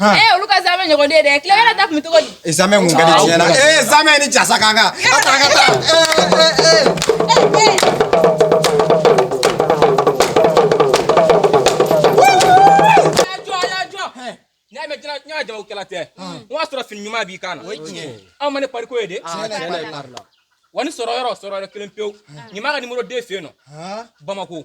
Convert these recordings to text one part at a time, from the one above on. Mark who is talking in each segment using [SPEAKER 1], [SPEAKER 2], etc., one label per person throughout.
[SPEAKER 1] Eh, eh, o y'a sɔrɔ fini ɲuman b'i kan na aw ma ne pariko ye de wa ni sɔrɔ yɔrɔ sɔrɔ yɔrɔ kelen pewu ɲuman ka nimoro den fɛ yen nɔ bamako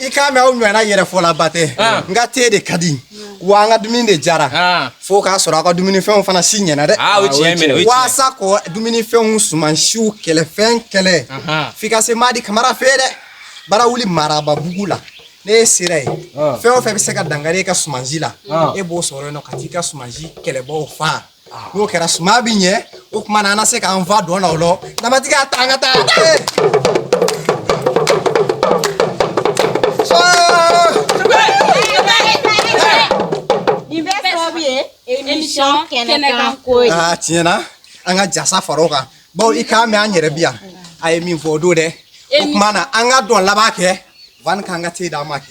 [SPEAKER 1] i k'a mɛn aw ɲɔgɔnna yɛrɛfɔlaba tɛ n ka te de ka di wa an ka dumuni de jara fo k'a sɔrɔ aw ka dumunifɛnw fana si ɲɛna dɛ waasa ko dumunifɛnw sumansiw kɛlɛfɛn kɛlɛ f'i ka se madi kamara fɛ dɛ Barawuli marababugu la ni e sera yen fɛn o fɛn bɛ se ka dankari i ka sumansi la e b'o sɔrɔ yen nɔ ka t'i ka sumansi kɛlɛbaaw faa n'o kɛra suman bɛ ɲɛ o tuma na an na se k'an fa dɔn na o lɔ namatigi y'a ta an ka taa. émission kɛnɛkan ko ye. aa tiɲɛ na an ka jasa fara o kan bawo i k'a mɛn a yɛrɛ bi yan a ye min fɔ o don dɛ o tuma na an ka dɔn laban kɛ yanni k'an ka te d'a ma kɛ.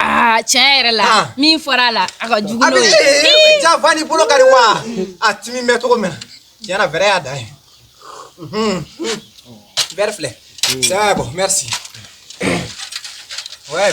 [SPEAKER 1] Aa tiɲɛ yɛrɛ la ah. min fɔra a la a ka jugu n'o ye eh, jafa ni bolo kari wa a timi bɛ cogo min na tiɲɛ yɛrɛ fɛrɛ y'a dan ye mhm. verre filɛ c'est bon merci ouais